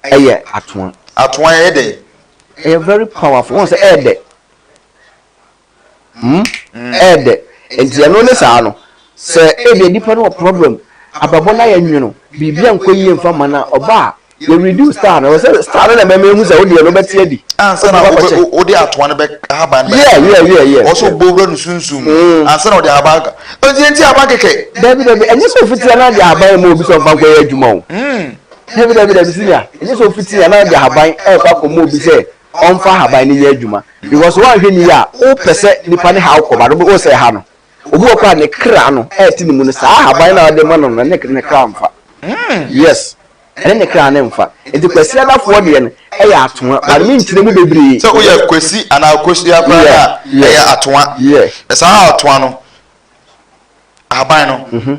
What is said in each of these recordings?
ɛyɛ atoa. Atoa ɛyɛ dɛn? Ɛyɛ very powerful wɔn sɛ ɛyɛ dɛ hmm ɛyɛ dɛ nti ɛno ne saa no sɛ ebi nipa no wɔ problem abɛbɔ na yɛ nwono biribi a nkɔ yie nfa ma na ɔba a yɛ reduce star no sɛ star no na ɛbɛma ehu sɛ ɔdeɛ no bɛte adi. ansa na ɔbɛ ɔde atoa no bɛ ahaban no bɛ yeah yeah yeah yeah ɔsɔ bɔ wura no sunsun mu hmm. ansa na ɔde ahaban ka ɔdi ɛnti ahaban kɛkɛ. dabi dabi ɛnyɛ sɛ ofitia na de ahaban mu obi sɛ ɔnfa nkɔ yɛ adwuma o. Hmm. Dabi, dabi, dabi, senior, ɛnyɛ sɛ ofi tea na ɔde ahaban ɛrekɔ akɔma obi sɛ ɔmfa ahaban no nyɛ adwuma, because woanhwɛ ni a, wopɛ sɛ nipa ne haw kɔ, but wobɛhu sɛ ɛha no. Obi wɔ hɔ koraa a ne kra no ɛrete ne mu no, saa ahaban no a ɔde rema no no, ɛne ne kra mfa. Yes, ɛne ne kra no mfa. Nti Kwasi Adafoɔ deɛ no ɛyɛ atoa, but me nkyerɛ mu bebree. Sɛ woyɛ Kwasi anaa Kosua koraa no a, ɛyɛ atoa. Na saa atoa no, ahaban no.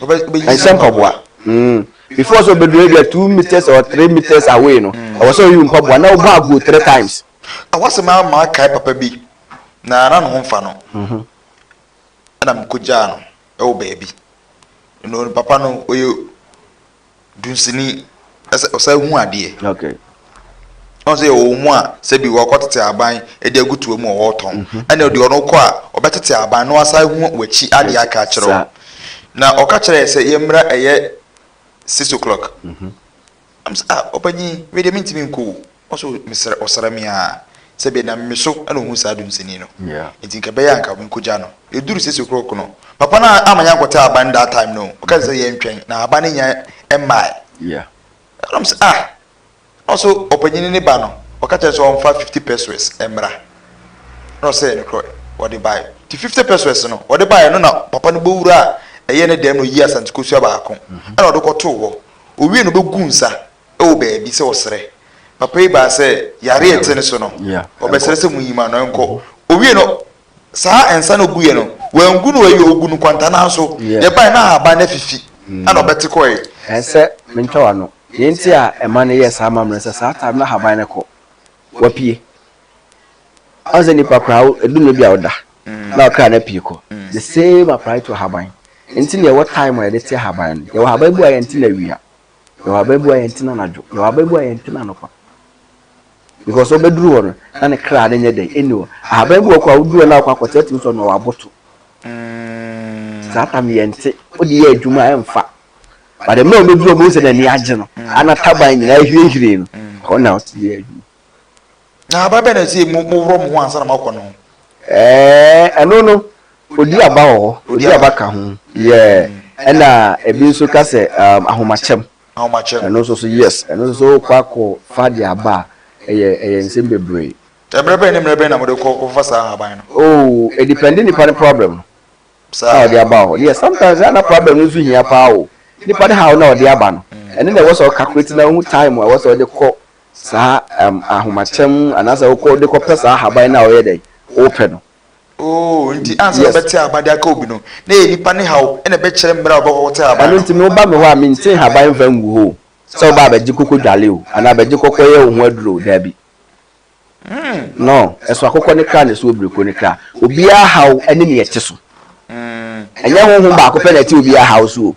ɛnhyɛ mpaboa mm. before sɛ ɔbɛduru ebi a two meters or three meters away no mm. ɛwɔ sɛ ɔyi mpaboa na ɔbɔ aguo three times. ɛwɔ sɛ maa maa kae papa bi na na ne ho nfa no mhm. ɛna mekɔgyaa no ɛwɔ baabi no papa no ɔyɛ dunsini sɛ ɔsan hu adeɛ. Okay. ɔn sɛ yɛwɔ mu a sɛ bi wɔkɔ tete aban de agu toa mu ɔwɔ tɔn mhm. ɛna deɛ ɔno kɔ a ɔbɛtete aban na wasan hu w'akyi adeɛ aka akyerɛ wo na ɔka kyerɛ sɛ yɛmmra ɛyɛ six o'clock mhm. ah, ɔpanyin wei deɛ mentumi nkɔ o Ɔso mesrɛ ɔsra me aa. Sɛ bia nam meso na ohun saa dum sini no nti nka ɛbɛyɛ a nka me kɔ gya no ɛduru six o'clock no papa no amma yɛn ankɔte ahaban no that time no ɔka sɛ yɛn twɛn na ahaban no nnya mmae ɛna ɔse ah na ɔso ɔpanyini ne ba no ɔka kyerɛ sɛ ɔmfa fifty pesewas mmra na ɔsɛ no korɔ ɔde bae nti fifty pesewas no ɔde bae no na papa no bɛwura ɛyɛ ne dɛm na ɔyi asante kosua baako ɛna ɔde kɔtoo hɔ owie no ɔbɛgu nsa wɔ baabi sɛ ɔsrɛ. Papa yi baa sɛ yare a ɛte ne so no, ɔbɛsrɛ sɛ munyi ma no, ɛnkɔ. Owiei no, saa nsa no a oguiɛ no, wangu no ayuo, ogu no nkwantanan so. Yɛbae na ahaban no afifi, ɛnna ɔbɛte kɔe. Ɛsɛ sɛ mentwa w'ano. Nea enti a ɛma no yɛ saa ma me no sɛ, saa time no ahaban no kɔ, wapue. Woahu sɛ nipa koraa, ɛdu nnɛ bi a ɔda, na ɔkra no apue kɔ. The same apply to ahaban. Enti na yɛwɔ time a yɛde te ahaban no. Yɛwɔ ahaban bi wɔ hɔ a yɛnte no awia. Yɛwɔ ababua yɛn tena anadwo. Yɛwɔ ababua yɛn tena anɔpa. Because ɔbɛduru hɔ no, na ne kra no nyɛ dɛn ɛni hɔ. Ahaban bi wɔ kɔ a woduru hɔ na akɔ akɔte atumi sɔ na waboto. Mm. Saa tam yɛn te, wode yɛ adwuma ɛmfa. But the mmerɛ ɔbɛduru hɔ bɛhu sɛ n'ani agye no, mm. ana taban nyinaa hwirehwire no, mm. ɔna ɔte yɛ adwuma. Na aba bɛn na ɛsɛ sɛ moworɔ mo ho ansa na moakɔ no? Ɛɛ, ɛno no, odi aba wɔ hɔ, odi aba ka ho, yeah, ɛna ebi nso ka sɛ um, ahomakyɛm. Ahomakyɛm. Ɛno nso so, yes, ɛno nso so wokɔ akɔ fa de aba a, ɛyɛ ɛyɛ nsɛm bebree. Mmerɛ bɛn ne mmerɛ bɛn na mode kɔ kɔfa saa ahaban no? Oh, edepɛnde nipa ne problem no a ɔde aba wɔ hɔ. Yes, sometimes a na problem no nso hia paa o, nipa ne haw no a ɔde aba no, ɛno na ɛwɔ sɛ ɔcalculate na ohu time a ɛwɔ sɛ ɔde kɔ saa ɛm ahomakyɛm anaasɛ wokɔ de kɔpɛ saa ahaban no a ɔyɛ dɛn wopɛ no. Oh, nti ansa na wobɛte ahaban de aka obi no, na ɛyɛ nipa ne haw na ɛbɛkyerɛ mmerɛ a wobɛkɔkɔte ahaban no. Ɛno nti me woba me hɔ a mente ahaban mfa ngu hɔ o, sɛ woba a bɛgye kɔkɔ dwale o, anaa bɛgye kɔkɔ yɛ wo ho aduro o, daabi. No, ɛso akokɔ ne kra na ɛso obireko ne kra. Obiara haw ne nea ɛte so. Ɛnyɛ honhom baako pɛ na ɛte obiara haw so o,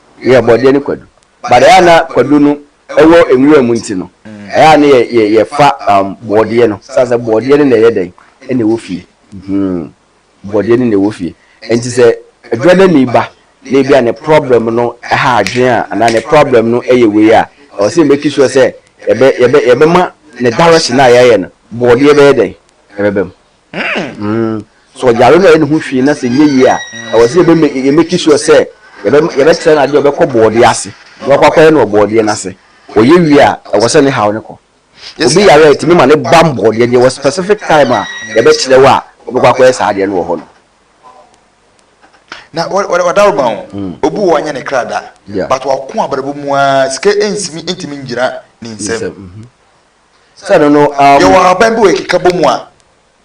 yɛ bɔdeɛ ne kwadu but ɛyɛ a na kwadu no wɔ nwura mu nti no ɛyɛ a na yɛ yɛfa um, bɔdeɛ no sɛ sɛ bɔdeɛ no na ɛyɛ dɛn ɛna ɛwɔ fie hmm bɔdeɛ no na ɛwɔ fie nti sɛ adwadani ba na ebi a ne problem no ɛha adwene a anaa ne problem no ɛyɛ wei a ɛwɔ sɛ yɛbɛki soɔ sɛ yɛbɛ yɛbɛ yɛbɛma ne direction a yɛayɛ no bɔdeɛ bɛyɛ dɛn ɛbɛbɛ mu. Sɛ ɔyare na ɔyɛ ne ho hwee na sɛ ɛnyɛ yie a, ɛwɔ sɛ yɛ make sure sɛ yɛbɛkyerɛ no adeɛ a ɔbɛkɔ bɔɔdeɛ ase na wakɔ akɔyɛ no wɔ bɔɔdeɛ no ase. Ɔyɛ wie a, ɛwɔ sɛ ne haw no kɔ. Obi yare a ɛtumi ma no bam bɔɔdeɛ no, yɛwɔ specific time a yɛbɛkyerɛ wo a wobɛkɔ akɔyɛ saa adeɛ no wɔ hɔ no. Na ɔda wo ma o, obi wɔ hɔ ɔnyɛ ne kra da but wako abrabɔ mu ara, sika ntumi ngyina ne nsam. Sɛ ɛno no ara mu. Yɛwɔ ahaban bi wɔ yɛn kekabɔ mu a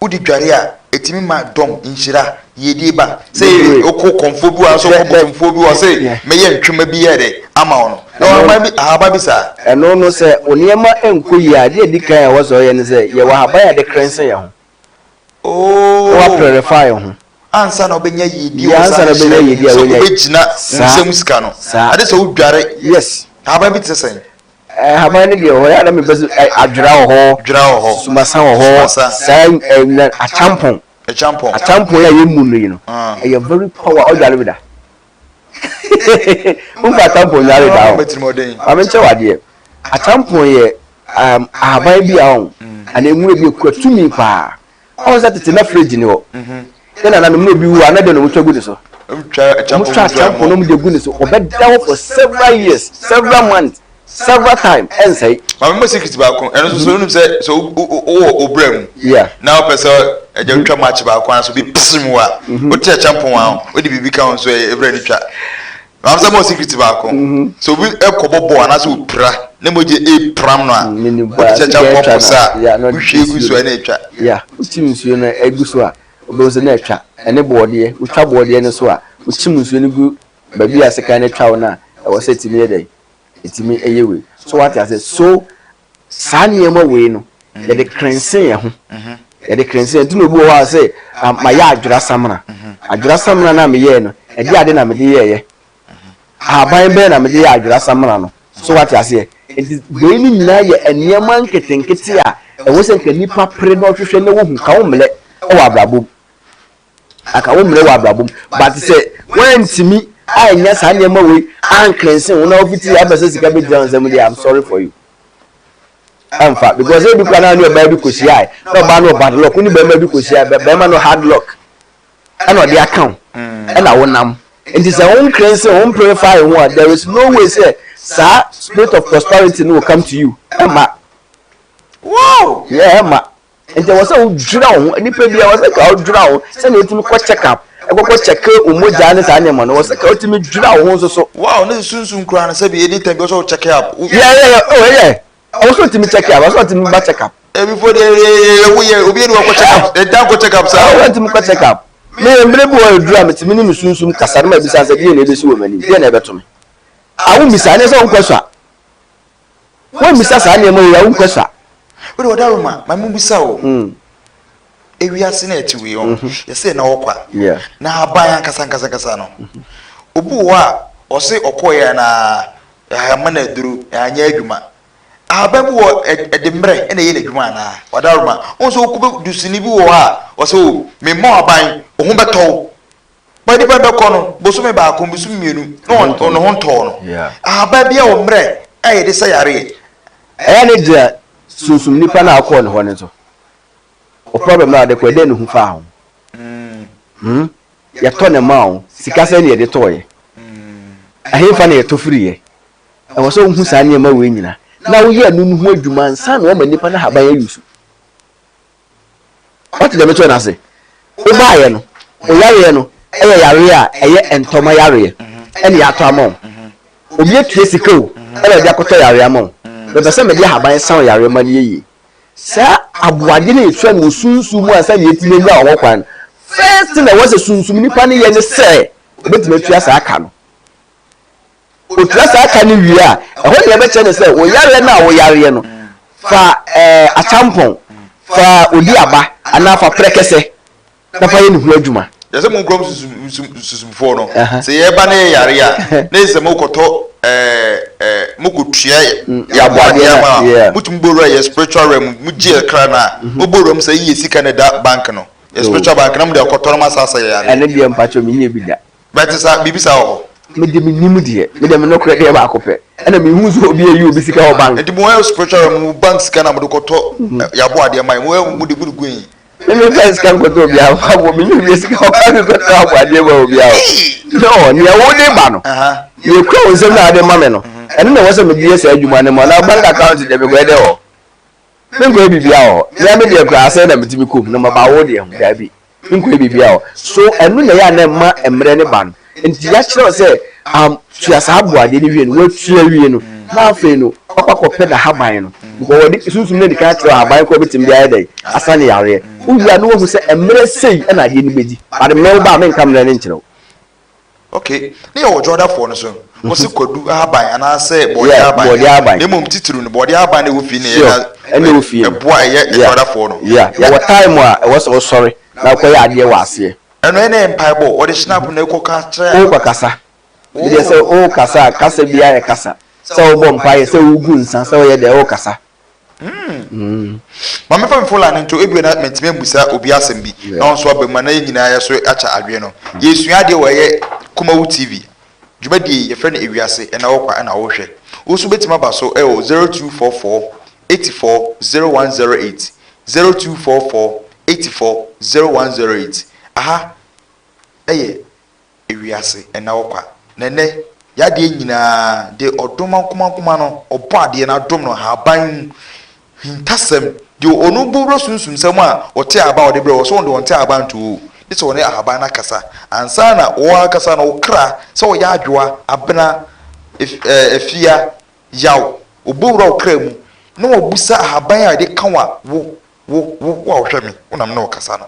wode dware a ɛtumi ma dɔm, nhyira, yiedie ba. Sɛ wokɔ kɔmfoɔ bi hɔ anaasɛ wokɔ botomfoɔ bi hɔ se mɛyɛ ntwema bi ayɛ dɛ ama wo no. Yɛwɔ ahaban bi, ahaban bi saa. Ɛno no sɛ wo nneɛma nkɔ yie a, adeɛ a ɛdi kan a ɛwɔ sɛ ɔyɛ ne sɛ, yɛwɔ ahaban a yɛde krense yɛn ho. na waprɛrɛfae ho. ansa na ɔbɛnya yiedie wɔ saa nhyira yi mu sɛ ɔbɛgyina wo nsam sika no ade sɛ wodware yes ahaban bi te sɛn ahaban no deɛ ɔyɛ na mebɛ adwera wɔ hɔ dwera wɔ hɔ sumasa wɔ hɔ saa akyampɔn akyampɔn a yɛmu no yi no ɛyɛ very power ɔdware bi da wonkɔ atampon nyare da ho ame nkyɛ wadeɛ atampon yɛ um, ahaban bi a ɔn mm. anaa nwura bi ekura tumi paa ɔn sɛ tete na fridge ni hɔ mhm. yɛn nananom na obi wu a na deɛ na wɔn twa gu ne so wɔn twa atampon na wɔn de gu ne so wɔbɛda hɔ for several years several months. several time ɛnsɛe. maame mo secret baako ɛno nso so wonim sɛ sɛ wowɔ obra mu na wopɛ sɛ agya mhm. wotwa match baako a so bi pese mu a mhm. wote ɛkyɛ mpɔn a mhm. wode biribi ka ho nso ɛbrɛ ne twa maame sɛ mo secret baako sɛ obi ɛkɔbɔ bɔɔ anaasɛ wopira ne mogye ɛpram no a mm, wode kyɛ kyɛ mpɔn pɔ sa a wohwie gu so a ɛne ɛtwa wotim nsuo no agu so a wobɛhu sɛ na ɛtwa ɛne bɔɔdeɛ wotwa bɔɔdeɛ no so a wokyim nsuo no gu baabi a sekan no twa wo no a ɛwɔ sɛ tumi yɛ dɛn ɛtumi yɛ wei so wate ase so saa nneɛma wei no yɛde krense yɛn ho yɛde krense yɛn ti na obi wɔ hɔ a sɛ ma yɛ adwera samina adwera samina na me yɛ no ɛde ade na me de yɛ yɛ ahaban bɛn na me de yɛ adwera samina no so wate aseɛ nti wei no nyinaa yɛ nneɛma nketenkete a ɛwɔ sɛ nka nipa pere na ɔhwehwɛ na wohu ka wo mmerɛ ɛwɔ abrabɔ mu. Anka wo mmerɛ wɔ abrabɔ mu but sɛ woantumi annya saa nneɛma wei anklensen wo na wofiti yɛ apɛ sɛ sika bɛgyina wo nsa mu deɛ I'm sorry for you ɛmfa because ebi kora na ne ɔbaa bi kɔhyiae na ɔbaa no wɔ bad luck wo ne bɛrima bi kɔhyiae bɛrima no hard luck ɛna ɔde aka wo ɛna wonam nti sɛ wo nklensen wo mpurifae ho a there is no way sɛ saa spirit of prosperity no will come to you ɛma wow yeah ɛma Nti ɛwɔ sɛ wodwira wo ho, nnipa biara ɛwɔ sɛ ka wodwira wo ho sɛnea wotumi kɔ check up, ɛkɔkɔ kyɛke wo mogyaa ne saa nneɛma no, ɛwɔ sɛ ka wotumi dwira wo ho nso so. Wow, ne nsunsun koraa no sɛbi any time bi ɛwɔ sɛ wo check up. Yeah, yeah, yeah, oh yeah, ɛwɔ sɛ wotumi check up, ɛwɔ sɛ wotumi ba check up. Ɛbifo deɛ yɛyɛyɛyɛ wo yɛ obi yɛ ne wakɔ check up, ɛda nkɔ check up saa. Ɛwɔ sɛ wotumi kɔ check up. Me yɛ mmerɛ bi wɔ aduru a metumi ne me sunsum kasa no ma bisa sɛ deɛ na ɛbɛsi wɔ m'anim, deɛ na ɛbɛto me. Awo misa, ɛnyɛ sɛ wonkɔ so a. Woammisa saa nneɛma wei a, wonkɔ sa. Wode wɔdaro ma, ma mubisa o. Ewiase no a ɛte wei ɔn, yɛ sɛ na ɔkɔ a, na ahaban ankasa ankasa ankasa no, obi wɔ hɔ a, ɔse ɔkɔeɛ a na ahama na aduru, anyɛ adwuma. Ahaban bi wɔ hɔ a, ɛde mmerɛ na ɛyɛ n'adwuma anaa? Wɔdaro ma. Wohu sɛ wokɔ bɛ, dusini bi wɔ hɔ a, ɔse o, memmɔ ahaban, wo ho bɛtɔ wo. Bɔ nnipa bɛkɔ no bosome baako, bosome mmienu na ɔno ho ntɔɔ no. Ahaban bi a ɔmmerɛ a yɛde sa yareɛ. Ɛyɛ ne deɛ sunsum nnipa no a ɔkɔɔ ne hɔ no nso. Wo problem no a ɔde kɔɛ dɛn na ohu faa ho? Hmm? Yɛtɔ ne maa wo, sika sɛn na yɛde tɔɔeɛ? Ɛhefa na yɛtɔ firiiɛ? Ɛwɔ sɛ wohu saa nneɛma wei nyina na woyɛ ɛno no ho adwuma ansa na wɔma nnipa no ahaban ayusu. Ɔte deɛ mekyerɛ no ase. Wobaeɛ no, wo yareɛ no yɛ yareɛ a ɛyɛ ntɔma yareɛ ɛna yɛatɔ ama wo. Obi atua sika o ɛna ɔde akɔtɔ yareɛ ama wo. Mepɛ sɛ mede ahaban sa wo yareɛ ma no yɛ yie. Saa aboadeɛ no a yɛtua no wɔ sunsum mu ansa na yɛatumi anya wo hokwan no, first thing a ɛwɔ sɛ sunsum nipa no yɛ ne sɛ ɔbɛtumi atua saa ka no. ɔtua saa ka no wie a, ɛhɔ na yɛbɛkyerɛ no sɛ wo yareɛ no a woyareɛ no, fa akyampɔn, fa odi aba anaa fa prɛkɛsɛ na fa yɛ ne ho adwuma. Yɛ sɛ mo nkurom susumfoɔ no, sɛ yɛreba na yɛyare a, na yɛ sɛ mokɔtɔ mokɔtua yɛ aboadeɛ no ama a, motumi bɔ wura yɛ spiritual realm mu, mogye yɛ kra no a, mobɔ wura mu sɛ yɛ sika na ɛda bank no, yɛ spiritual bank na mode akɔtɔ na moasasa yɛ yareɛ. Ɛno deɛ mpakyɛ menyɛ bi da. Bɛte saa, biribi saa wɔ hɔ. Me de me nim deɛ. Me deɛ me nokorɛ deɛ baako pɛ. Ɛna me hu sɛ obi ayi obi sika wɔ bank. Nti mo yɛ spiritual realm mo bank sika na mo de kɔ tɔ yabɔ adeɛ ma yɛ mo yɛ mo de mo de gu he. Me me nfa sika nkɔ tɔ obiara hɔ aboɔ me nya obiara sika wɔ bank nkɔ tɔ abɔ adeɛ ma obiara o. Nɔɔ nea wo de ba no nea ekura wo nsam na ade ma me no ɛno na ɛwɔ sɛ me de yɛ saa adwuma no ma na bank account deɛ me kɔ yɛ dɛ hɔ. Menkɔyɛ biribiara wɔ hɔ. Mea me deɛ koraa sɛn na metumi kɔ mu na maba wo deɛ ho? Dabi, menkɔyɛ biribiara wɔ hɔ. So ɛno na ɛyɛ a na ɛma mmerɛ no ba no? Enti yɛakyerɛ wo sɛ am tua saa aboadeɛ no wie no, watua wie no, na afei no wakɔ akɔpɛ n'ahaban no, because wɔde sunsum no adi kan akyerɛ wo ahaban korɔ bɛtumi de ayɛ dɛn? Asa ne yareɛ. Wowie a na wahu sɛ mmerɛ sei na adeɛ no bɛdi, but me wo ba a menka mmerɛ no nkyerɛ wo. Ok, ne yɛ wɔ Dwoadafoɔ no so no, wɔ se kwadu ahaban anaa sɛ bɔɔdeɛ ahaban yeah, bɔɔdeɛ ahaban, na mmom titiriw no bɔɔdeɛ ahaban na ɛwɔ fie na ɛyɛ na ɛboa a ɛyɛ Dwoadafoɔ no. Yeah, yeah, yɛwɔ time a ɛwɔ sɛ wo sɔre na wo kɔyɛ adeɛ wɔ aseɛ. Ɛno ɛna yɛ mpaebɔ, wɔde hyena apo na ɛkɔ ka kyerɛ. Wo kɔ kasa, ɛdeɛ sɛ wo kasa a kasa biara yɛ kasa, sɛ wo bɔ mpaeɛ, sɛ wo gu nsa, sɛ wo yɛ dɛɛ wo kasa. Mm. Ma mefa me fola no nto ebia na mentumi ambusa obi asɛm bi na ɔnso aba mu a na yɛn nyinaa yɛ so akyɛ adwene no. Mm. Yɛsua adeɛ wɔ ɛyɛ Kumawu TV. Dwumadie yi yɛfrɛ no Ewiase ɛna wɔkwa ɛna wɔhwɛ. Wo nso bɛtumi aba so ɛwɔ 0244 84 0108 0244 84 0108 aha ɛyɛ ewiase nna hɔ kwa, na ɛnnɛ Yɛ adeɛ nyinaa de ɔdom ankomankoma no Ɔbɔadeɛ no adom no Ahaban mu hintasɛm Deɛ ɔno bo wura sunsumsɛm a Ɔte ahaban a ɔde brɛ wo Sɛ ɔde ɔnte ahaban nto o Gye sɛ ɔne ahaban no akasa Ansa na wo ankasa no wo kra Sɛ ɔyɛ adwoa, abena, afia, yaw Ɔbɔ wura wo kra mu na wabusa Ahaban a ɛde kawa wo, wo, wo, wo a wohwɛ me Wonam ne ɔkasa no.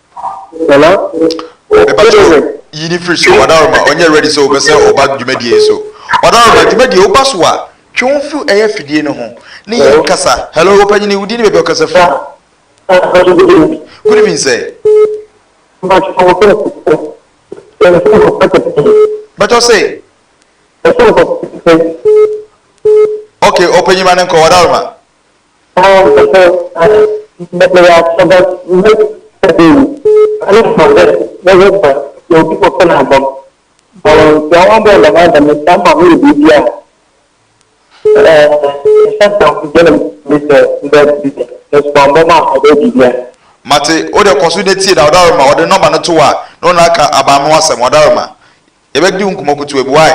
Mepakyɛw wo, yi no firi so. Wadaroma, ɔnyɛ ready sɛ ɔbɛsɛ ɔba dwumadie yi so. Wadaroma, dwumadie, woba so a, twe wo ho firi ɛyɛ afidie no ho ne yɛn kasa. Hello, ɔpanyini, wo din ne baabi a ɔkasa firi? Good evening, sir. Mepakyɛw se. Okay, ɔpanyini ma no nkɔ, Wadaroma. Mate, wo deɛ kɔ so na tie na ɔdarima ɔde nɔma no to wo a na ɔno aka aban no ho asɛm, ɔdarima. Yɛbɛdi wo nkɔmmɔ kutuwa bi, wai?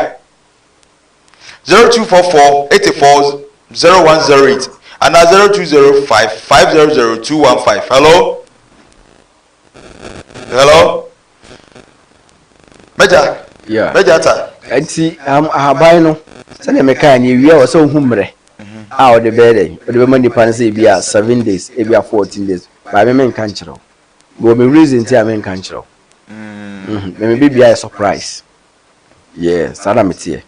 zero two four four eighty four zero one zero eight anaa zero two zero five five zero zero two one five hello hello mẹja Yeah. mẹja ta nti um, ahaban no sɛdeɛ mekaa ne awia wɔ sɛ wohu mmerɛ a ɔde bɛyɛ dɛn ɔde bɛma nnipa no sɛ ebi a seven days ebi a fourteen days baa me menka nkyerɛ wo mewɔ me reason nti a menka nkyerɛ wo Mhm, me mebɛbia yɛ surprise Yeah saa na me teɛ.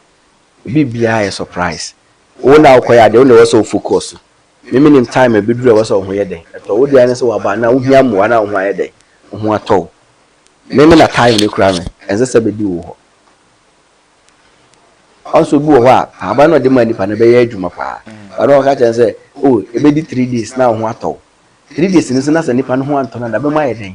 Obi biaa yɛ surprise. Wo na wokɔyɛ adeɛ wo na ɛwɔ sɛ wo focus. Me me nim time a ɛbɛduru a ɛwɔ sɛ wo ho yɛ dɛn ɛtɔ wo. Wo deɛ ara ne sɛ waba na wo hia mmoa na wo ho ayɛ dɛn wo ho atɔ wo. Me me na time no kura me ɛnsɛ sɛ bɛdi wo hɔ. Once obi wɔ hɔ a ahaban na ɔde maa nipa no ɛbɛyɛ adwuma paa. But na ɔka kyerɛ no sɛ oh ɛbɛdi three days na wo ho atɔ wo. Three days no nso na sɛ nipa no ho antɔ no a na bɛma ayɛ dɛn.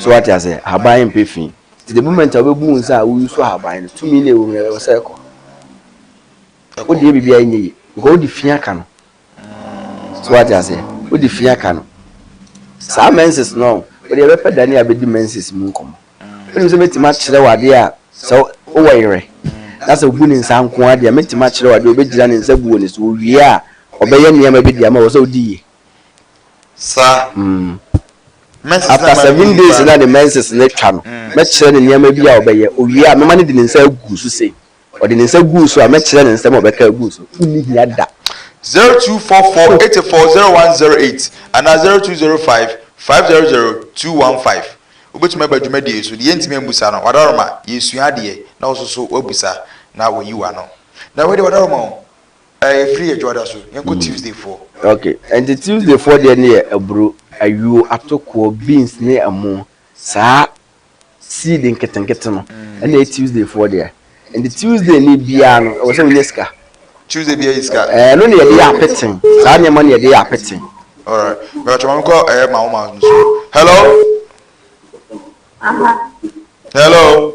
So wate aseɛ? Ahaban mpɛ fi. Nti the moment a wobɛbu wo nsa a wo use ahaban no, tumi no a ɛwɔ mu no ɛwɔ sɛ ɛkɔ. Wodeɛ biribiara nyɛ yie because wode fi aka no. So wate aseɛ? Wode fi aka no. Saa menses no, wode ɛbɛpɛ da ne a bɛdi menses mu nkɔmmɔ. Wonim sɛ mɛtumi akyerɛ wo adeɛ a sɛ wowɔ yerɛ na sɛ wobu ne nsa nko ara deɛ mɛtumi akyerɛ wo adeɛ a ɔbɛgyina ne nsa gu wɔ ne so, owie a ɔbɛyɛ nneɛma bi de ama wo, ɛwɔ sɛ wodi yie. Sa mm. After seven days na ne menses no atwa no, mɛkyerɛ no nneɛma bi a ɔbɛyɛ. Owie a, mɛma no de ne nsa agu so sei. Ɔde ne nsa guu so a, mɛkyerɛ no nsɛm a ɔbɛka agu so. Wonni hia da. Zero two four four eight four zero one zero eight anaa zero two zero five five zero zero two one five. Wobɛtumi aba dwumadie yi so. Deɛ yɛntumi ammusa no, Wadaroma, yɛresua adeɛ na wo nso so woabusa na woayi w'ano. Na wei deɛ Wadaroma o, Eh ɛfiri adwa da so yɛnkɔ Tuesday foɔ. Ok ɛnti Tuesday foɔ deɛ ne yɛ aburo, ayuo, atokoɔ, beans ne ɛmo saa seed nketenkete no ɛna ɛyɛ Tuesday foɔ deɛ ɛnti Tuesday ni biara no ɛwɔ sɛ wonya sika. Tuesday biara yɛ sika. Eh ɛno ne yɛde yɛ apete saa nneɛma no yɛde yɛ apete. Alright mepatwɔ maame kɔ ɛyɛ mawo mawo no so. Hello. Aha. Hello.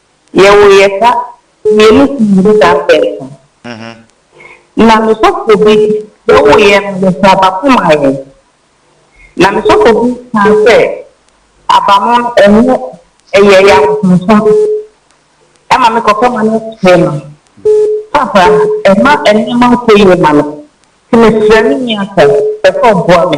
Yɛ wo yɛ ka wie no so mede da pɛɛpɛɛ Na me sɔfo bi yɛ wo yɛ no yɛ sɛ aba ko ma yɛn Na me sɔfo bi kaa sɛ aba no ɛnyɛ ɛyɛ yɛ abosonsom ɛma me kɔkɔ ma no kyɛɛ ma Papa ɛma nneɛma nkɔ yie ma me nti mesrɛ me nua sɛ pɛ sɛ ɔboa me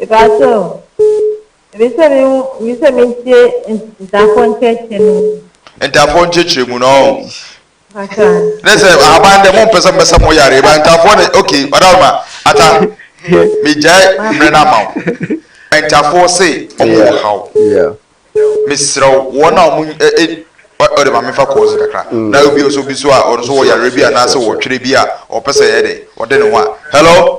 Ebɛaso, emi sɛ me hu, emi sɛ me ntie ntafoɔ nkyerɛkyerɛ no mu. Ntafoɔ nkyerɛkyerɛ mu no ɔho. Mpakyɛ. Ne sɛ ahaban dɛ mo mpɛ sɛ mbɛsɛ mo yare ba ntafoɔ ne ok ɔda ma ata me gyae mmerɛ no ama wo ntafoɔ se ɔmo wɔ haw me serɛ wo wɔn a ɔmo ɛ ɔde ma me fa kɔɔse kakra na obi nso bi so a ɔno nso wɔ yare bi anaasɛ wɔ twerɛ bi a ɔpɛ sɛ yɛ dɛ ɔde ne ho a hello.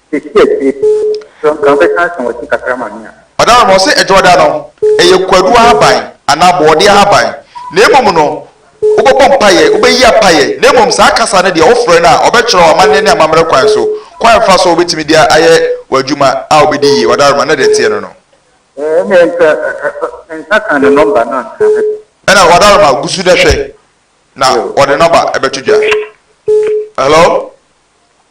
Seesei akyire yi, sɛ anka wobɛka asɛm wɔ ti kakra ma me a. Madam no ɔse ɛdwoɔda no ɛyɛ kwadu ahaban anaa bɔɔde ahaban na mmom no wobɛbɔ mpaeɛ wobɛyi apaeɛ na mmom saa kasa no deɛ wofrɛ no a ɔbɛkyerɛ wo amanneɛ ne amammerɛ kwan so kwan a fa so a wobɛtumi de ayɛ w'adwuma a wobɛdi yie wadaroma na deɛ ɛteɛ no no Ɛnneɛ nka ɛ nka ka ne nɔmba no anka mɛpɛ. Ɛna wadaroma gu so na hwɛ na ɔde nɔmba ɛbɛto dwa. Hello.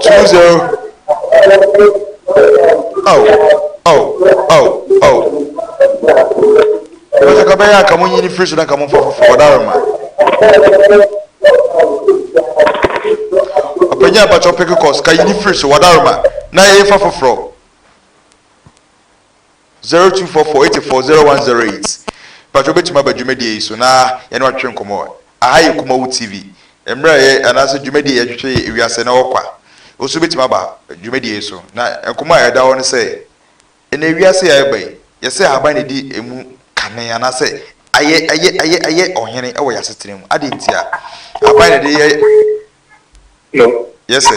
Chimuzero Ao ao ao ao Ɛbɛsɛ ka bɛyɛ anka mo nyi ne firi so na ka mo mfa foforɔ wɔda rema Ɔpanyin abatwɔ peke kɔs ka yi ne firi so wɔda rema na yɛfa foforɔ Zero two four four eighty four zero one zero eight Mpakyɛ wobɛtumi aba dwumadie yi so na yɛne wo atwetwe nkɔmmɔ. Aha yɛ Kumawu TV. Mmerɛ a yɛ anaasɛ dwumadie a yɛtwetwe yɛ ewiase na ɔkwa. Wo nso wobɛtumi aba dwumadie yi so. Na nkɔmmɔ a ɛda hɔ ne sɛ, ɛnɛ ewiase a yɛreba yi, yɛsɛ ahaban na ɛdi ɛmu kane anaasɛ ayɛ ayɛ ayɛ ayɛ ɔhene wɔ yɛ asetena mu. Adɛn ntia? Ahaban na ɛde yɛ. No. Yɛsɛ.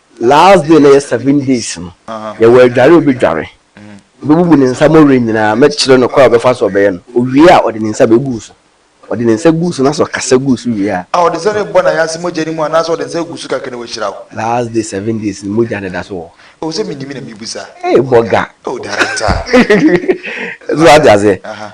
Last day na yɛ seven days no yɛwɔ adware a ɔbɛdware, ɔbɛbubu ne nsa mɔwerɛ nyinaa, mɛkyerɛ no kwan a ɔbɛfa so ɔbɛyɛ no, ɔwie a ɔde ne nsa bɛgu so, ɔde ne nsa gu so na sɛ ɔkasa gu so wie a. A ɔde nsa no rebɔ n'ayanse mogya no mu anaasɛ ɔde nsa gu so kakra na wahyira wo? Last day seven days no mogya no da so wɔ hɔ. Oh sɛ menim na mebisa. Hey bɔga. Oh director. So wate aseɛ.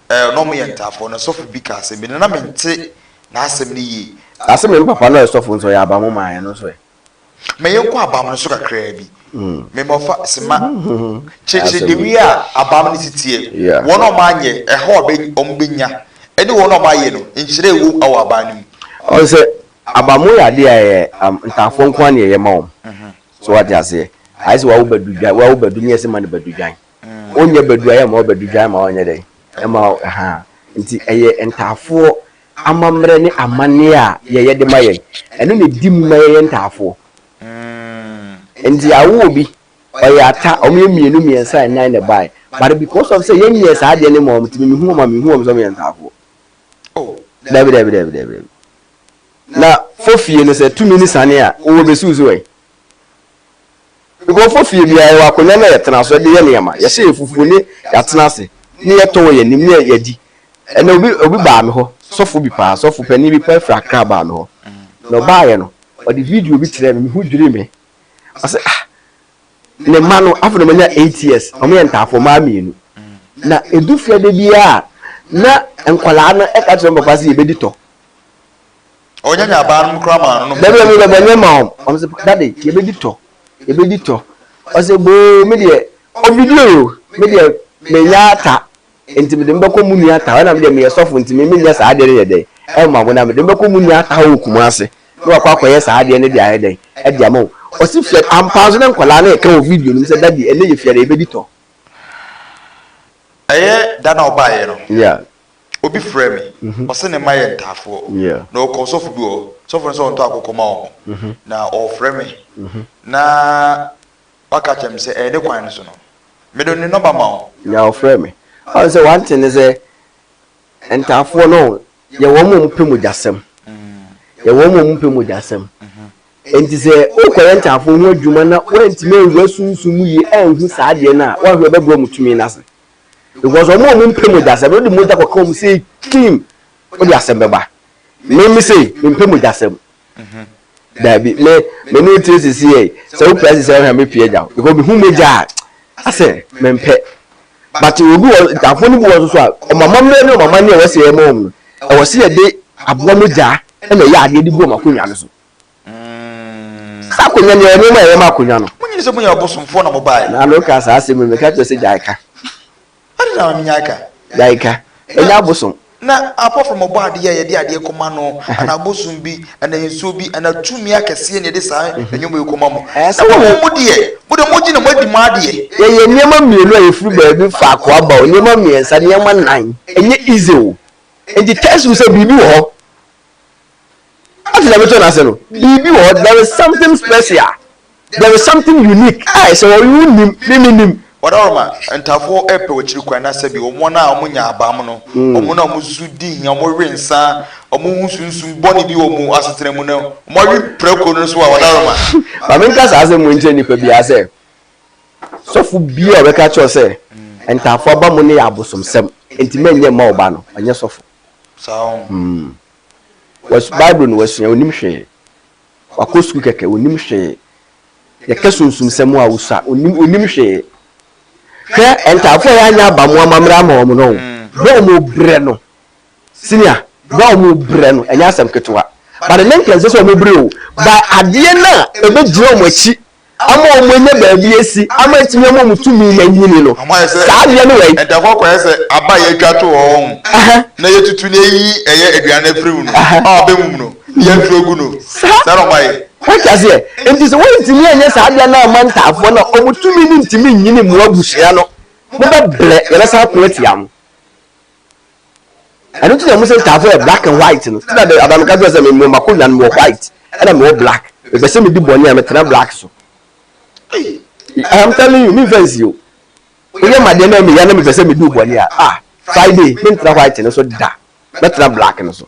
a na wɔyɛ ntaafoɔ no, sɔfo bi kaa sɛ, Me nana mente n'asɛm no yie. Na se me mpapa no a ɔyɛ sɔfo nso, ɔyɛ abamo maa yɛn no nso ɛ? Ma yɛnkɔ abam no so kakraa bi. Me ma ɔfa se ma kyerɛkyerɛ dewei a abam no si teɛ, wɔn a wɔanyɛ, ɛhaw a wɔbɛnya, ne wɔn a wɔayɛ no, nhyira a ɛwom wɔ aban no mu. Ɔse sɛ abamo yɛ adeɛ a ɛyɛ ntaafoɔ nko ara na ɛyɛ ma wɔn. So wate aseɛ? Ayɛ sɛ wawo badudwan, wawo badu ne yɛse ma no badudwan. Ɔnyɛ badu a yɛma ɔbadu dwa ma ɔnyɛ dɛn? Ɛma ha. Nti ɛyɛ ntaafoɔ amammerɛ ne amanneɛ a yɛyɛ de ma yɛn. Ɛno na ɛdi mu ma yɛyɛ ntaafoɔ. Nti yɛawo obi, ɔyɛ ata, wɔyɛ mmienu, mmiɛnsa, nnan na ɛbaeɛ. But because of sɛ yɛnyɛɛ saa adeɛ no mmaa wɔn nti mehu wɔn a menhu wɔn sɛ wɔyɛ ntaafoɔ. Daabi, daabi, daabi, daabi. Na fɔ fie no sɛ tumi ne sane a, wowɔ bɛsuusu ɛ? Nkurɔfo fie biara yɛwɔ akonnwa no a yɛtena so de yɛ nneɛma, yɛhyɛ yɛn fufu ne yɛatena ase ne yɛtɔ wɔ yɛn anim ne yɛadi. Ɛnnɛ obi obi baa me hɔ, sɔfo bi paa, sɔfo panyin bi paa firi Accra baa me hɔ. Na ɔbaeɛ no, ɔde video bi kyerɛɛ me, me ho dwirii me. Ɔse ah, ne mma no, afei na wɔanya eight years, wɔyɛ ntaafo, mmaa mmienu. Na ɛdu fiada biara a, na nkwadaa no ka kyerɛ wɔn papa sɛ yɛbɛdi tɔ. Ɔnya nya baa no mu koraa maa no nom. Dabi dabi dabi ɔnyɛ ma wɔn. Wɔn sɛ dade yɛbɛdi tɔ yɛbɛdi tɔ. Ɔsɛ boo me deɛ ɔbidie o me deɛ menya ata nti mede me bɛkɔ mu nua ta hɔ ɛna me deɛ meyɛ sɔfo nti me menyɛ saa adeɛ no yɛ dɛn ɛma wo na mede me bɛkɔ mu nua ta hɔ wɔ Kumasi na wakɔ akɔyɛ saa adeɛ no de ayɛ dɛn ɛde ama wo. Ɔsi fia ampaa nso na nkwadaa no ɛka wɔ video no mu sɛ dade ɛnɛ yɛ fia da yɛbɛdi tɔ. Ɛyɛ da na ɔbaeɛ no. Yeah. Obi frɛɛ me, ɔse ne mma yɛ ntaafoɔ, na ɔkɔ sɔfo bi hɔ, sɔfo no sɛ ɔntɔ akokɔ ma wɔn, na ɔrefrɛ me, na waka akyerɛ me sɛ ɛyɛ ne kwan no so no, mede ne nɔma ma wo. Na ɔfrɛɛ me. Ɔne sɛ wante ne sɛ ntaafoɔ no, yɛ wɔn a wɔpɛ mogyasɛm, yɛ wɔn a wɔpɛ mogyasɛm. Enti sɛ wokɔyɛ ntaafoɔ ho adwuma na woantumi anwura sunsum mu yie anhu saa adeɛ no a, woahwɛ wɔbɛbrɛ wɔn tumi no ase. because wɔn a wɔn mpɛ mogya sɛm no de mogya kɔka wɔn sɛ kim wode asɛm bɛba me me sei me mpɛ mogya sɛm mhm. daabi me me ne tie sisi yɛ sɛ wo pɛ sisi ɛhwɛ me pie gya because me hu mogya a asɛ me mpɛ but obi wɔ ntaafo no bi wɔ soso a wɔn amammerɛ ne wɔn amanneɛ a wɔsi ɛma wɔn no ɛwɔ sɛ yɛde aboa mogya ɛna ɛyɛ adeɛ de gu wɔn akonnwa no so Saa akonnwa no yɛ nneɛma a ɛyɛ ma akonnwa no. Mo nyini sɛ mo yɛ ɔbosomfoɔ na mo baeɛ. Na no ka saa asɛm yi meka kyerɛ sɛ gyae ka. Ade na menyae ka. Gyae ka. Ɛnyɛ abosom. Na apart from ɔbɔ adeɛ a yɛde adeɛ kɔma no anaa bosom bi anaa nsuo bi anaa tumi akɛseɛ na yɛde saa nneɛma yi kɔma mo. Na mo mo deɛ mo deɛ mogye na moadi mo adeɛ. Yɛyɛ nneɛma mmienu a yɛfiri baabi faako aba o, nneɛma mmiɛnsa, nneɛma nnan. Ɛnyɛ easy o. Enti test wo sɛ biribi wɔ hɔ Ade na mɛtɔ n'ase no, biribi wɔ hɔ, there is something special, there is something unique a ɛsɛ hɔ, wonim, me menim. Ɔdawuruma, Ntafo repɛ akyiri kwan na sɛbi wɔn a wɔnya abam no, hmm. wɔn a wɔsu di hia, wɔwe nsa, wɔhu sunsum bɔne bi wɔ wɔn asetena mu no, wɔawe prako no so a ɔdawuruma. Ma menka saa asɛm mu nkyerɛ nnipa biara sɛ, sɔfo bi a ɔbɛka kyerɛ sɛ hmm. ntafo aba mu no yɛ abosomsɛm, enti mɛnyɛ mma ɔba no, ɔnyɛ sɔfo. Saa. Hmm. Bible no wasua, onim hwee. Wakɔ sukuu kɛkɛ, onim hwee. Yɛka sunsumsɛm a osua, onim onim hwee. Hwɛ ntaafo a yɛanya aba mo amammerɛ ama wɔn no, bere a wɔn brɛ no, senior, bere a wɔn brɛ no, ɛnyɛ asɛm ketewa. But ne nka nsɛ sɛ wɔn brɛ o, ba adeɛ no a ɛbɛgyina wɔn akyi ama wɔn anya baabi asi ama atumi ama wɔn tumi na anyini no. Saa adeɛ no wɛn. Ɛda hɔ kɔyɛ sɛ aba yɛatwa to hɔ wɔn na yɛtutu na yɛyi ɛyɛ aduane no afiri mu no a wɔbɛmum no na yɛatu agu no. Saa na wɔayɛ. Wote aseɛ? Enti sɛ wɔntumi anyɛ saa adeɛ no amma ntaafoɔ no a, wɔn tumi no ntumi nyini mo abusua no. Mobɛbrɛ na yɛbɛsan ako atia mo. ɛno nti na ɔmo sɛ ntaafo yɛ black and white no ti na de abamika kyerɛ sɛ mewɔ makonwa no mewɔ white ɛna mewɔ black mepɛ sɛ medi bɔne a metena black so I'm telling you memfa nsi o woyɛ madeɛ na meya na mepɛ sɛ medi bɔne a ah friday mentena white no so da mɛtena black no so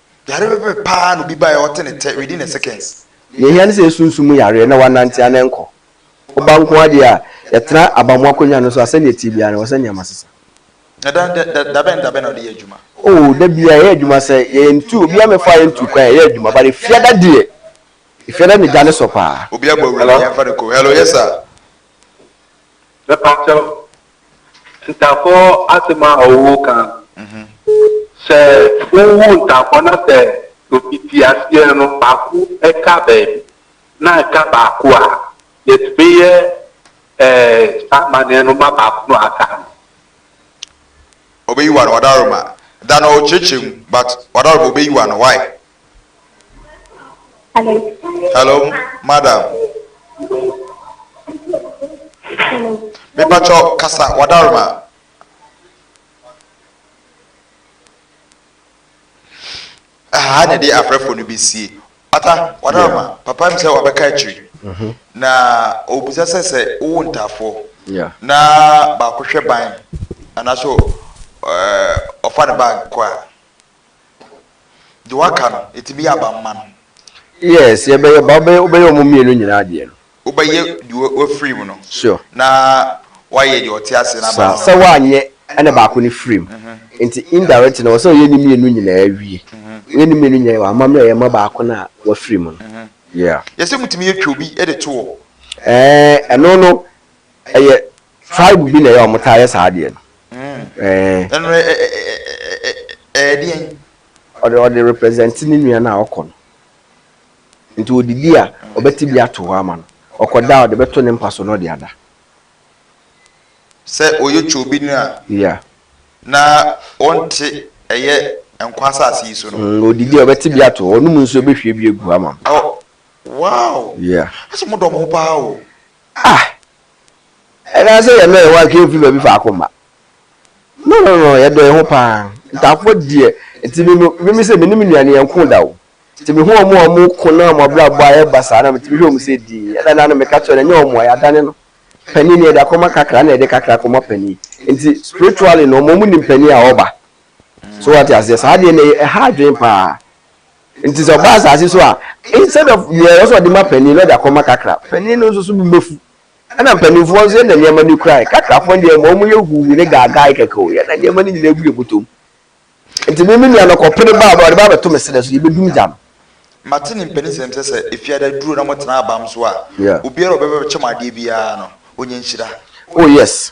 Yare pɛpɛpɛ paa na obi bae a ɔte ne tɛ within a seconds. Nea ehia ne sɛ yesunsum mu yareɛ na wɔanante anɛ nkɔ. Woba nko ara deɛ a, yɛtena abamu akonnwa no so a, sɛnea ɛte biara no, ɛwɔ sɛ nneɛma sesa. Na da da da da bɛn ne da bɛn na wode yɛ adwuma? Oh, da biara, yɛyɛ adwuma sɛ yɛyɛ ntu, obiara mmɛfaa yɛn ntu kwan, yɛyɛ adwuma. But Efiada deɛ, Efiada na gya no sɔ paa. Obi abɔ awuram a, yɛmfa no kurom. Hello, yes sir. Mepakyɛw, Ntafo asɛm a ɔwoo ka no, sɛ wowu ntafo na sɛ obi te aseɛ no baako ka baabi na ɛka baako a, yɛtumi yɛ eh, saa amanneɛ no ma baako no aka no. Ɔbɛyi w'ano, Wadaroma. Da no ɔkyerɛkyerɛ mu but Wadaroma ɔbɛyi w'ano, why? Hello, madam. Mepatwɔ kasa wadaroma. Aha na ɛde afrɛfo no besie. Ata wadaroma papa mi sɛ wabɛka akyiri. Mhm. Na obisa sɛ sɛ wowo ntaafoɔ na baako hwɛ ban anaasɛ ɔfa ne bag kɔ a. Deɛ waka no, ɛtumi yɛ aba mma no. Yes, yɛbɛyɛ ba, wobɛyɛ wobɛyɛ wɔn mmienu nyinaa adeɛ no. Wobɛyɛ deɛ wafiri mu no. Sure. Na woayɛ deɛ ɔte aseɛ no aba Saa, no. sɛ woanyɛ ɛna baako no firi mu. Nti indirectly no, ɛwɔ sɛ woyɛ ne mmienu nyinaa wie. Woyɛ ne mmienu nyinaa wie a, w'amammerɛ yɛ ma baako no a wafiri mu no. Yeah. Yɛsɛ motumi yɛ twa obi de to hɔ. Ɛɛ, ɛno no, ɛyɛ. Tribe bi na ɛyɛ a wɔtaa yɛ saa adeɛ no. Ɛno no ɛyɛ deɛn? Ɔde ɔde represent ne nua no a ɔkɔ no. Nti ɔdidi a, ɔbɛte bi ato hɔ ama no. Ɔkɔda a, ɔde bɛto ne mpa so na ɔde ada. Sɛ ɔyɛ Choo bi nua a. Yeah. Na ɔnte ɛyɛ nkwa asase yi so no. Mm, ɔdidi a, ɔbɛte bi ato hɔ. Ɔnom nsuo, ɔbɛhwie bi agu hɔ ama no. Oh, wow! Yeah. Ɛsɛ mo dɔ mo ho paa o. Ah, Anaasɛ yɛmma yɛn ho atwe mfi baabi faako mma? No, no, no, yɛdɔ yɛn ho paa. Ntaafoɔ deɛ, nti me no, meme sɛ me ne me nuane yɛnko da o. Nti mehu wɔn a wɔko na wɔn abrabɔ ayɛ basaa na metumi hwɛ wɔn sɛ dinn. Ɛda no ara na meka kyerɛ no, ɛnyɛ wɔn a, yɛadane no. Panin no, yɛde akɔma kakra na yɛde kakra akɔma panin. Nti, spiritually no, wɔn a wɔnim panin a wɔba. So woate aseɛ? Saa adeɛ no, ɛha adwene paa. Nti sɛ ɔba asase so a, instead of deɛ ɛwɔ sɛ ɔde ma panin na ɔde akɔma kakra, panin no nso so bo bɛfu. Ɛna mpanimfoɔ nso yɛn na nneɛma no kura yɛn. Kakrafoɔ deɛ ma wɔn yɛ huu ne gaagae kɛkɛ o, yɛn na nneɛma no nyinaa gu yɛn bɔtɔ mu. Nti me me nua no kɔpere baa ɔde ba abɛto me serɛ so, yɛbɛdum gya no. Mate ne mpanisɛm sɛ sɛ efiada aduro na motena abam so a, obiara a ɔbɛba abɛkyɛ mo adeɛ biara no, ɔnya nhyira. Oh yes,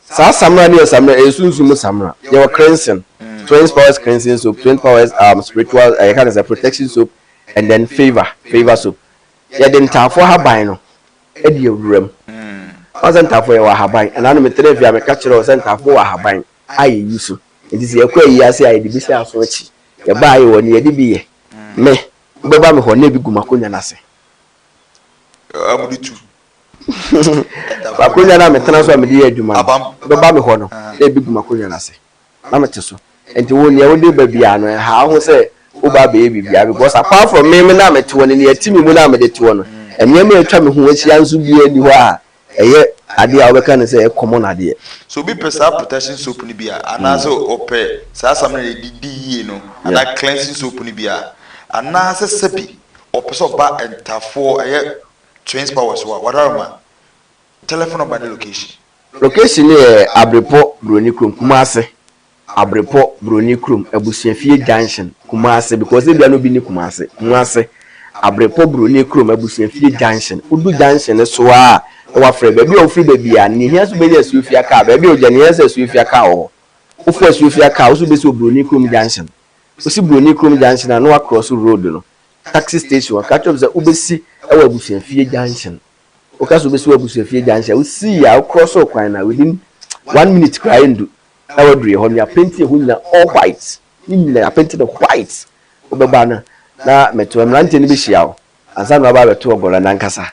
Saa samina no yɛ samina, ɛyɛ sunsum mu samina. Yɛwɔ cleansing, twenty powers cleansing soap, twenty powers um, spiritual, uh, yɛka no sɛ protection soap, and then favor, favor soap. Yɛde ntaafoɔ ahaban no ɛde awura mu. Ɔn sɛ ntaafoɔ yɛwɔ ahaban, ɛna no metena fie a meka kyerɛ wo sɛ ntaafoɔ wɔ ahaban a yɛyi so. Nti sɛ yɛkɔ ayi ase a yɛde bi sɛ aso akyi. Yɛba ayɛ wɔ no yɛde bi yɛ. Me, wobɛba me hɔ na ebi gu m'akonnwa no ase. Amude tu. Akonnwa no a metena so a mede yɛ adwuma no, wobɛba me hɔ no, na ebegu m'akonnwa no ase, na mete so. Enti wo, nea wode ba biara no, ɛnhaw wo ho sɛ woreba abɛyɛ biribiara, because apart from me, me na mete hɔ, ne nea ɛte me mu no a mede te hɔ no. Nneɛma a atwa me ho ahyia nso biara nni hɔ a ɛyɛ ade a wobɛka no sɛ ɛyɛ common adeɛ. So obi pɛ saa protection soap no bi a, anaasɛ ɔpɛ saa samina a yɛde di yie no, anaa cleansing soap no bi a, anaasɛ sɛbi ɔpɛ sɛ ɔba ntafoɔ, ɛyɛ Twins powers wa wara ma telephone number ne location. Location no yɛ Abrepo Broni Kurom, Kumasi. Abrepo Broni Kurom, Abusuafie Junction, Kumasi because ebia na obi nni Kumasi. Kumasi, Abrepo Broni Kurom, Abusuafie Junction. Wodu junction no so ara na woafrɛ baabi a wofiri ba biara no. Nea ehia nso wobenya Asuofia car. Baabi a wogyina no, ehia sɛ Asuofia car wɔ hɔ. Wofɔ Asuofia car a, wo nso wobesi wɔ Broni Kurom Junction. Wosi Broni Kurom Junction a, na woakrɔso road no. taxi station ɔka kyerɛ m sɛ wobɛsi wɔ abusuafie junction woka sɛ wobɛsi wɔ abusuafie junction wosii a wokorɔ so kwan no a within one minute koraa ɛndu na waduruɛ hɔ no yɛapenti ɛhɔ nyina all white ne nyina yɛapenti no white wobɛba no na metoa mmeranteɛ no bɛhyia wo ansa na waba abɛto ɔgɔla no ankasa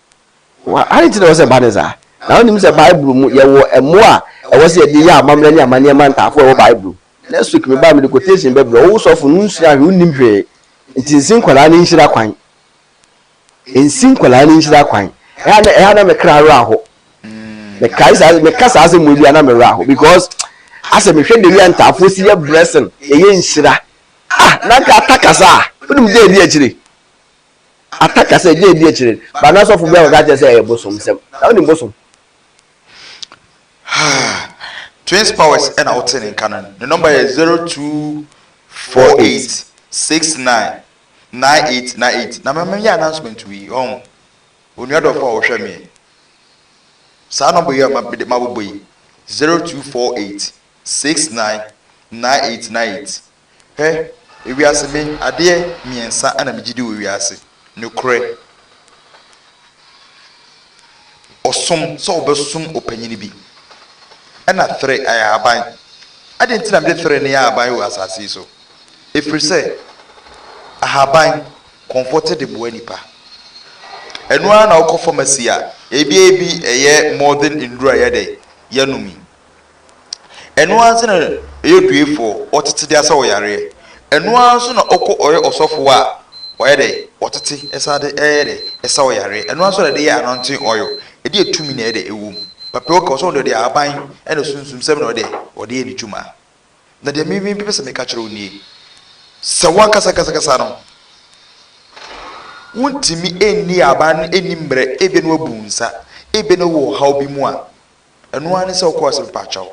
Ade nti na ɛwɔ sɛ ɛba ne saa? Na wonim sɛ Bible mu yɛwɔ mmoa a ɛwɔ sɛ yɛde yɛ amammerɛ ne amanneɛ ma ntaafo a ɛwɔ Bible mu. Next week mebaa mede quotation bɛbrɛ wo, wo sɔfo no wonsua hwee wonnim hwee nti nsi nkwadaa no nhyira kwan. Nsi nkwadaa no nhyira kwan. Ɛha na ɛha na me kra werɛ aho. Mekae saa meka saa asɛm mu bi a na me werɛ aho because asɛ mehwɛ dɛm a ntaafo si yɛ blessing yɛyɛ nhyira. Ah na nka ata kasa a wonim gye adi akyire. aka ka sɛ ɛgye ɛdi akyire no ba na sɔfo bi akɔka kyerɛ sɛ ɛyɛ bosom sɛm na wonim bosom twins powers ɛna wote ne nka no ne nɔmba yɛ 0248699898 na mɛmɛyɛ announcement wei ɔn onua dɔfo a wɔhwɛ meɛ saa nɔmba yi a mabobɔ yi 0248699898 Hwɛ, ewiase, me, adeɛ mmiɛnsa na megye di wɔ wiase, nokorɛ, ɔsom, sɛ wobɛsom ɔpanyini bi, ɛna thre ayɛ aban. Adɛn nti na mede thre no yɛ aban wɔ asase yi so? Ɛfiri sɛ, ahaban, kɔmfoɔ te de mmoa nnipa. Ɛno ara na wokɔ pharmacy a, ebi ebi ɛyɛ modern nnuro a yɛdɛ, yɛnom yi. Ɛno ara nso na ɛyɛ oduefoɔ, ɔtete de asa wo yareɛ. Ɛno ara nso na ɔkɔ ɔyɛ ɔsɔfoɔ a, wayɛ dɛ, ɔtete ɛsan de ɛyɛ dɛ, ɛsa wo yareɛ. Ɛno ara nso na ɛde yɛ anointing oil, ɛde yɛ tumi na ɛyɛ dɛ, ɛwɔ mu. Papa yi ɔka ɔsɛ ɔde ɔde ahaban ɛna sunsum sɛm na ɔyɛ dɛ, ɔde yɛ ne dwuma. Na deɛ me me pɛ sɛ meka kyerɛ wo nie, sɛ wo ankasa ankasa ankasa no, wontumi ɛnni ahaban no ɛnni mmerɛ, ebia na w'abu wo nsa, ebia na wowɔ ɔhaw bi mu a, Ɛno ara ne sɛ wokɔɔ sɛ mpakyɛw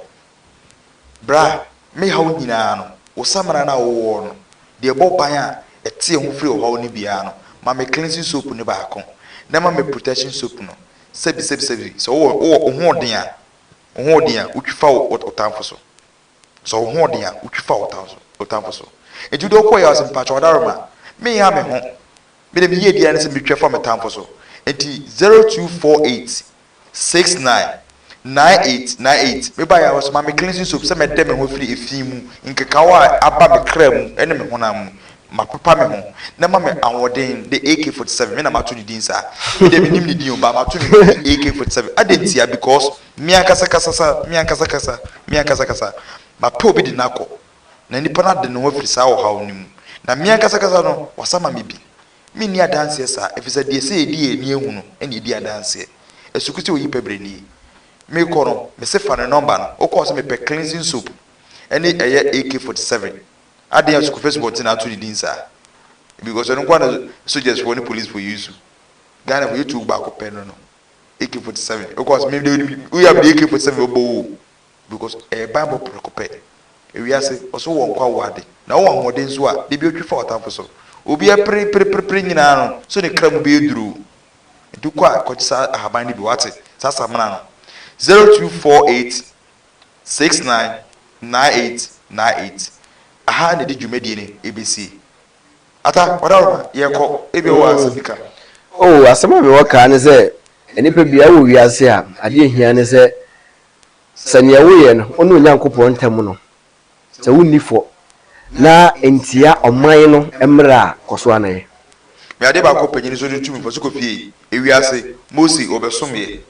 bra me haw nyinaa no, wo samina no a wowɔ no, deɛ ɛbɔ ban a ɛteɛ ho firi ɔhaw no biara no, ma me cleansing soap no baako na ɛma me protection soap no, sɛbi sɛbi sɛbi, sɛ wowɔ wowɔ wo hoɔden a, wo hoɔden a, wotwi fa wo wo tamfo so. Sɔ wo hoɔden a wotwi fa wo tamfo wo tamfo so. Enti wode ɔko ɔyaw se mpakyɛ ɔdaroma menha me ho mede me yie biara ne se metwa fa me tamfo so enti zero two four eight six nine nine eight nine eight meba yaw so ma me cleansing soap sɛ mɛdɛ me ho afiri efi mu nkekaw a aba me kra mu ne me honam mu mapepa me ho na ma me ahoɔden de AK forty seven me na mato ne din saa me deɛ menim ne din o baa mato ne din AK forty seven adɛn ntia because Me ankasa kasa sa, me ankasa kasa, me ankasa kasa, mapɛ obi de no akɔ, na nipa no ade ne ho afiri saa ɔhaw no mu, na me ankasa kasa no, wɔasa ma me bi. Menni adanseɛ saa, ɛfiri sɛ deɛ ɛsɛ yɛdi yɛn ani ahu no na yɛdi adanseɛ. Asuku sɛ oyi pɛ berɛ nie. Merekɔ no, mese fa ne nɔmba no, wokɔ a ɔse mepɛ cleansing soap ne ɛyɛ AK-47. Adɛn a Asuku first born nti na ato ne din saa? Because ɛno nko ara na sogyasfoɔ ne policefoɔ use. Ghanafoɔ yɛtu baako pɛ no no. AK forty seven wokɔ ɔsɛ mede wode woyɛ a mede AK forty seven bɛbɔ wo o because ɛyɛ banbɔ prɛko pɛ ewiase ɔsɛ wowɔ nkwa wowɔ ade na wowɔ ahoɔden nso a da bi otwi fa w'atamfo so obi apere pere pere pere nyinaa no so ne kra mu bɛyɛ duru o nti wokɔ a kɔgye saa ahaban no bi wate saa samena no zero two four eight six nine nine eight nine eight aha na ɛde dwumadie no ɛbɛsie Ata, ɔda hɔ ma yɛkɔ, ebia wowɔ asɛm bi ka. Oh, asɛm a mewɔ kaa ne sɛ, nnipa biara wɔ wiase a, adeɛ a ɛhia ne sɛ, sɛ neɛ woyɛ no, wo ne Onyankopɔn ntam no, sɛ wonni fɔ, na ntia ɔman no mmara a, kɔ so ara na yɛ. Me adeɛ baako pɛ, gye ne so de tumi, fa so kɔ fie. Ewiase, Mose, ɔbɛsomeɛ.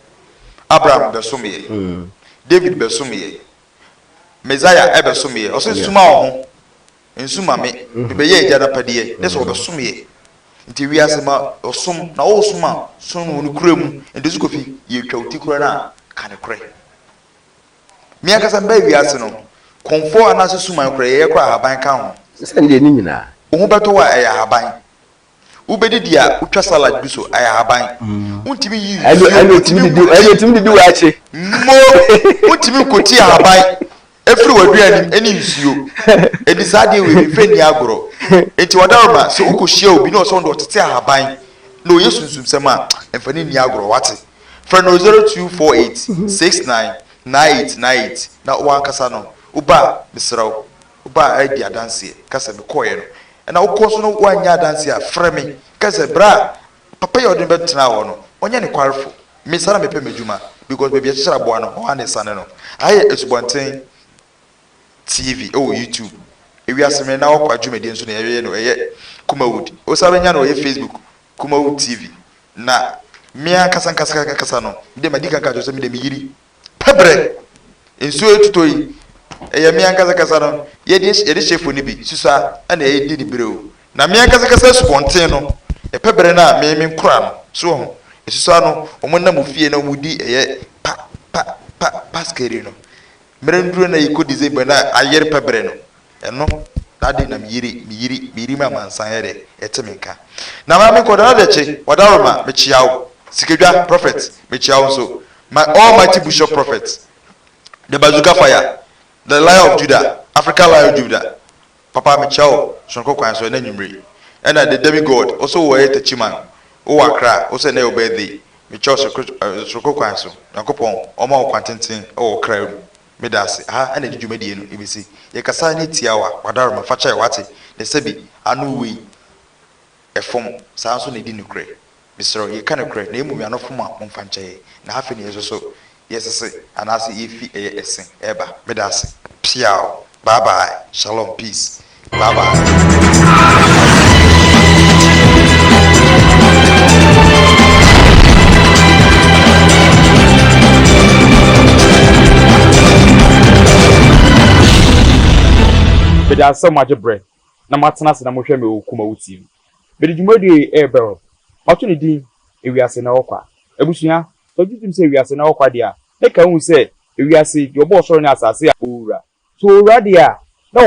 Abraham bɛsomeɛ. David bɛsomeɛ. Messiah bɛsomeɛ. Ɔse, suma wo ho. Nsu ma me, mebɛyɛ Agya no apɛdeɛ, ne sɛ wɔbɛsomeɛ. Nti wiase ma ɔsom, na wosom a, som no wɔ nokorɛ mu. Nti so Kofi, yɛtwa wo ti korɛ no a, ka nokorɛ. Me ankasa mebaa wiase no, kɔmfoɔ anaase suman korɛ, yɛyɛ koraa ahaban ka ho. Sɛdeɛ ne nyinaa. Wo ho bɛtɔ wo a, ɛyɛ ahaban. Wobedidi a, wotwa salad gu so, ɛyɛ ahaban. Wontumi nyi nsuo, Ɛna otumi didi ɛna otumi didi waakye. Mmo, wontumi nkotie ahaban efiri w'aduane mu ɛne nsuo. Enti saa adeɛ wei memfa nni agorɔ. Enti wadaroma, sɛ wokɔhyia obi na ɔsɛ ɔno deɛ ɔtete ahaban na ɔyɛ sunsumsɛm a, mfa no nni agorɔ, wate? Frɛ no 0248 69 98 98 na wo ankasa no, woba a, mesrɛ wo. Woba a di adanseɛ, ka sɛ, Mekɔeɛ no. Ɛna wokɔ so na woannya adanseɛ a, frɛ me. Ka sɛ, Berɛ a papa yi a wode no bɛtenaa hɔ no, ɔnyɛ nokwarefo. Me saa na mepɛ m'adwuma, because baabi a yɛkyekyere aboa no, hɔ ara na ɛsane no. Aha yɛ Asubɔnten TV wɔ YouTube. Ewiase Mmere na Awakɔ adwumadie nso na yɛyɛ no, ɛyɛ Kumawood. Wosan bɛnya no wɔ yɛ Facebook, Kumawood TV. Na me ankasa ankasa ankasa no, me deɛ madi kan aka akyerɛ wo sɛ me deɛ meyiri Pɛbrɛ, nsuo retotɔ yi, ɛyɛ me ankasa kasa no, yɛde yɛde hyɛ fo no bi, susa na ɛredi ne berɛw. Na me ankasa kasa asubɔnten no, pɛbrɛ no a me menkora no, so wɔn ho, ɛsusa no, wɔn nam ofie na wɔn di ɛyɛ pa, pa, pa, paskeri no. Mmerɛ no duro na yɛkɔ December na ayere pɛbrɛ no, Ɛno na ade na me yere, me yere, me yere ma amansan yɛ dɛ ɛte me nka. Na maame nkɔ da na dɛ kye, wadaworo ma, me kyea wo, sikadwa, prophet, me kyea wo nso, my almighty bushop prophet, the bazooka fire, the lion of Judah, African lion Judah, papa me kyea wo, sononko kwan so, ɛnɛ anwummere, ɛna the demi God, wo so wo ɛyɛ Techiman, wo wɔ Accra, wo so ɛnɛ yɛ wo birthday, me kyea wo sononko kwan so, Nyankopɔn ɔma wo kwan tenten wɔ wo kra mu. Meda ase. Aha na ɛde dwumadie no bɛsi. Yɛkasa ne tiawa, wadaroma, fa kyɛɛ, wate, na sɛbi, ano wei, ɛfom, saa nso na ɛdi nokorɛ. Mesrɛ wo, yɛka nokorɛ, na mmom y'ano fom a, momfa nkyɛ yɛn. Na afei na yɛsoso, yɛsese, anaase yɛfi ɛyɛ ɛse, ɛɛba. Meda ase. Piaw. Bye bye. Shalom. Peace. Bye bye. Meda ase sɛ moagye berɛ na moatena ase na mohwɛ me wɔ Kumawu TV. Mede dwumadie yi rebɛwrɔ. Mato ne din Ewiase na Ɛwɔ Kwa. Abusua, sɛ wogye tom sɛ ewiase na ɛwɔ kwa deɛ a, na ɛka wohu sɛ ewiase, deɛ ɔbɔɔ ɔsoro ne asase a ɔrewura. So ɔrewura deɛ a, na ɔwɔ.